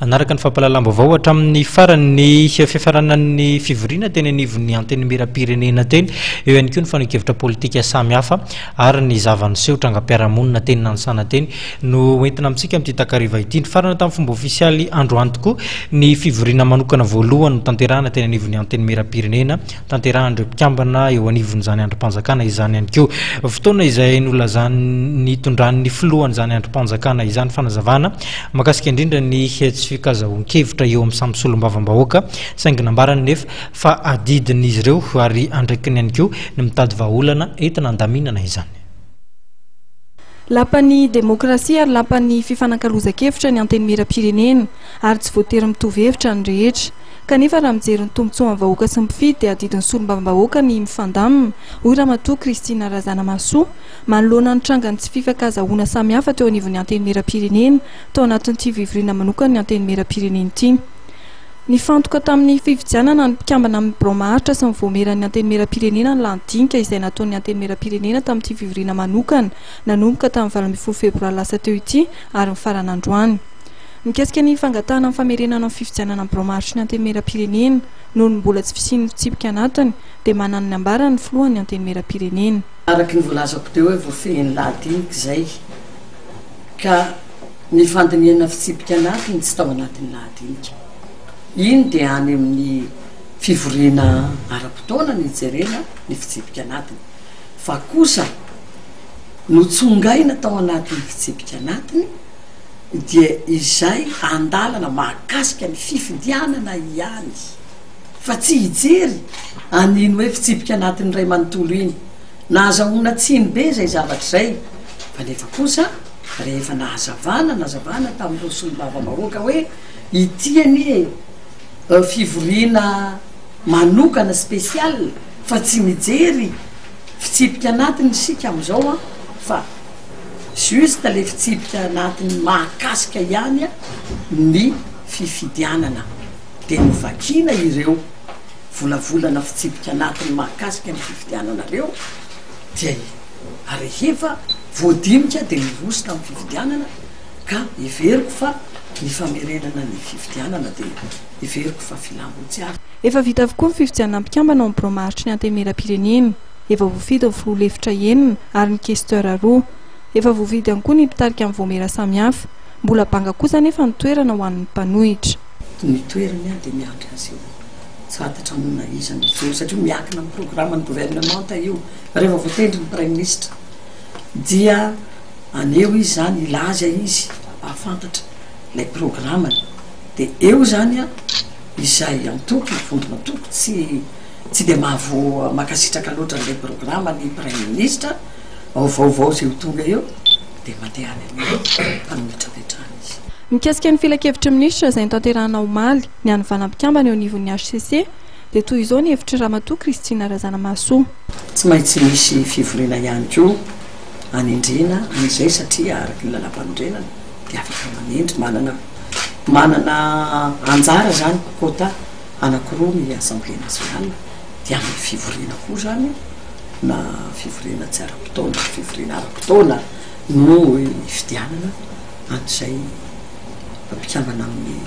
Hanaraka ny fampahalalam-baovao hatramin'ny farany ny fiafaranan'ny fivoriana teny anivon'ny Antenimierampirenena teny, eo ihany koa ny fanehoan-kevitra politika samihafa ary ny zava-niseho trangam-piarahamonina teny Nanisana teny no hoentina amintsika amin'ity takariva ity. Nifarana tamin'ny fomba ofisialy androany tokoa ny fivoriana manokana voalohany notanterahina teny anivon'ny Antenimierampirenena Tanterahan'ireo mpikambana eo anivon'izany andrim-panjakana izany ihany koa. Fotoana izay nolazan nitondran'ny filohan'izany andrim-panjakana izany fanazavana mahakasika indrindra ny tsy fikazahoan-kevitra eo amin'ny samy solombavambahoaka saingy nambarany nefa fa adidin'izy ireo ary andraikiny ihany koa ny mitady vahaolana entina handaminana izany. Lapan'ny demokrasia ary lapan'ny fifanakalozan-kevitra ny Antenimieram-pirenena ary tsy voatery mitovy hevitra ny rehetra. Kanefa raha mijery ny tombontsoan'ny vahoaka sy ny mpifidy dia adidin'ny solombavambahoaka ny mifandamina, hoy Ramatoa Christine Razanamahasoa, manoloana ny trangan'ny tsy fifankazahoana samihafa teo anivon'ny Antenimierampirenena tao anatin'ity fivoriana manokan'ny Antenimierampirenena ity. Nifantoka tamin'ny fifidianana ny mpikambana amin'ny birao maharitra sy ny vaomieran'ny Antenimierampirenena ny lanidinika izay nataon'ny Antenimierampirenena tamin'ity fivoriana manokana nanomboka tamin'ny valo ambin'ny folo febroary lasa teo ity ary mifarana androany. Mikasika ny fangatahana ny famerenana ny fifidianana ny biraom-aritry ny Antenimierampirenena noho ny mbola tsy fisian'ny fitsipika anatiny dia manana ny ambarany ny filohan'ny Antenimierampirenena. Araka ny voalazako teo hoe voafehin'ny lahadinika izay ka ny fandinihana fitsipika anatiny tsy tao anatin'ny lahadinika. Iny dia any amin'ny fivoriana ara-potoana no hijerena ny fitsipika anatiny fa kosa notsongaina tao anatin'ny fitsipika anatiny dia izay andalana mahakasika ny fifidianana ihany fa tsy hijery an'iny hoe fitsipika anatin'ny iray manontolo iny. Nahazahoana tsiny be izay zavatra izay kanefa kosa rehefa nahazavana nazavana tamin'ireo solombavambahoaka hoe ity anie fivoriana manokana spécial fa tsy mijery fitsipika anatiny isika amin'izao an fa Juste le fitsipika anatiny mahakasika ihany ny fifidianana dia novakiana ireo volavolana fitsipika anatiny mahakasika ny fifidianana ireo dia rehefa voadinika dia mirosotra amin'ny fifidianana ka heveriko fa ny famerenana ny fifidianana dia heveriko fa filam-botsiazy. Efa vita avokoa ny fifidianana mpikambana ao amin'ny Biraom-aharitry ny Antenimieram-pirenena. efa voafidy ny filoha lefitra enina ary ny questeurs roa. Efa voafidy ihany koa ny mpitarika ny vaomiera samihafa. Mbola banga kosa anefa ny toerana ho an'ny mpanohitra. Ny toerany ary dia miandry azy eo. Tsy fantatra moa na iza no hijoro satria miankina amin'ny programan'ny governemanta io. Rehefa voatendry ny praiminisitra dia haneho izy izany, hilaza izy ampahafantatra ilay programany. Dia eo izany izay antoko, vondron'antoko tsy. Tsy dia mahavoa mankasitraka loatra an'ilay programa ny Praiminisitra, ao vaovao izay ho tonga eo dia mandeha any amin'ny fametrapetrahana izy. Mikasika ny filankevitry ny Minisitra izay notanterahina omaly, nianivanà mpikambana eo anivon'ny hcc, dia toy izao ny hevitr'i Ramatoa Christine Razanamahasoa. Tsy maintsy misy fivoriana ihany koa hanendrena an'izay satria araka ny Lalàmpanorenana dia afaka manendry, manana manana anjara izany, quota. Anakiroa ny Assemblée nationale, dia amin'ny fivoriana koa izany na fivoriana tsy ara-potoana na fivoriana ara-potoana no hifidianana an'izay mpikambana amin'ny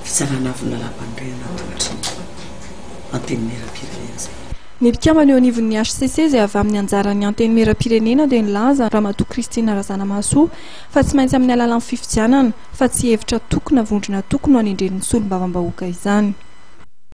Fitsarana Avon'ny Lalàmpanorenana ankoatry ny Antenimierampirenena izay. Ny mpikambana eo anivon'ny hcc izay avy amin'ny anjaran'ny Antenimierampirenena dia nilaza Ramatoa Christine Razanamahasoa fa tsy maintsy amin'ny alalan'ny fifidianana fa tsy hevitra toko na vondrona toko no anendren'ny solombavambahoaka izany.